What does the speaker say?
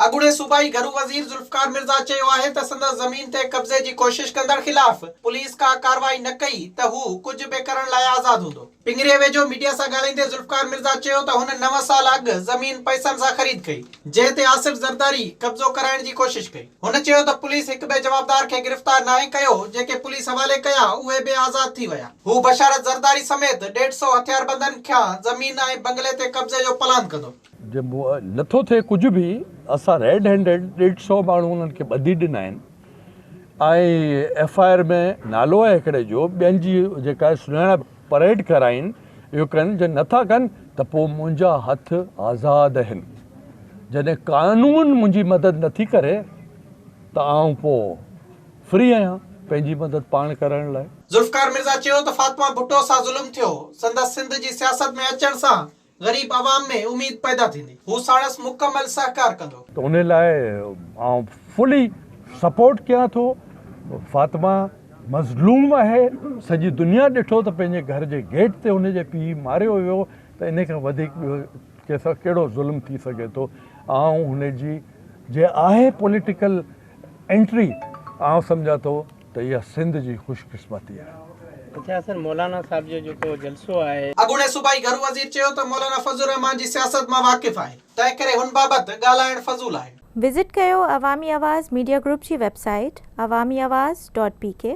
اڳوڻي صوبائي گهرو وزير ذوالفقار مرزا چيو آهي ته سندس زمين تي قبضي جي ڪوشش ڪندڙ خلاف پوليس ڪا ڪارروائي نه ڪئي ته هو ڪجهه به ڪرڻ لاء آزاد هوندو. پنگري ويجهو ميڊيا سان ڳالهائيندي ذوالفقار مرزا چيو ته هن نو سال اڳ زمين پئسن سان خريد ڪئي جنهن تي آصف زرداري قبضو ڪرائڻ جي ڪوشش ڪئي. هن چيو ته پوليس هڪ به جوابدار کي گرفتار ناهي ڪيو، جيڪي پوليس حوالي ڪيا اهي به آزاد ٿي ويا. هو بشارت زرداري سميت ڏيڍ سئو هٿياربندن کيان زمين ۽ بنگلي تي قبضي جو پلان ڪندو. جي نٿو ٿئي ڪجهه به اسان ريڊ هينڊيڊ ڏيڍ سئو ماڻهو انهن کي ٻڌي ڏنا آهن ۽ ايف آء آر ۾ نالو آهي هڪڙي جو ٻين جي جيڪا سڃاڻپ. پريڊ ڪرائين اهو ڪن جي نٿا ڪن ته پوء منهنجا هٿ آزاد هن جڏهن قانون منهنجي مدد نٿي ڪري ته آئون پوء فري آهيان پنهنجي مدد پاڻ ڪرڻ لاء. ذوالفقار مرزا چيو ته فاطمه ڀٽو سان ظلم ٿيو سندس سنڌ جي سياست ۾ اچڻ سان غريب عوام ۾ اميد پيدا ٿيندي. هو ساڻس مڪمل سهڪار ڪندو. ته ان لاء آئون فلي سپورٽ ڪيان ٿو فاطمه مظلوم آهي سڄي دنيا ڏٺو ته پنهنجي گهر جي گيٽ تي هن جي پيء ماريو ويو ته ان کان وڌيڪ ٻيو ڪنهن سان ڪهڙو ظلم ٿي سگهي ٿو آئون هن جي جي آهي پوليٽيڪل انٽري آئون سمجهان ٿو ته اها سنڌ جي خوش قسمتي آهي. اچا سر مولانا صاحب جو جيڪو جلسو آهي. اڳوڻي صوبائي گهرو وزير چيو ته مولانا فضل الرحمان جي سياست مان واقف آهي تنهن ڪري هن بابت ڳالهائڻ فضول آهي. وزٽ ڪيو عوامي آواز ميڊيا گروپ جي website Awami Awaz dot P ڪي.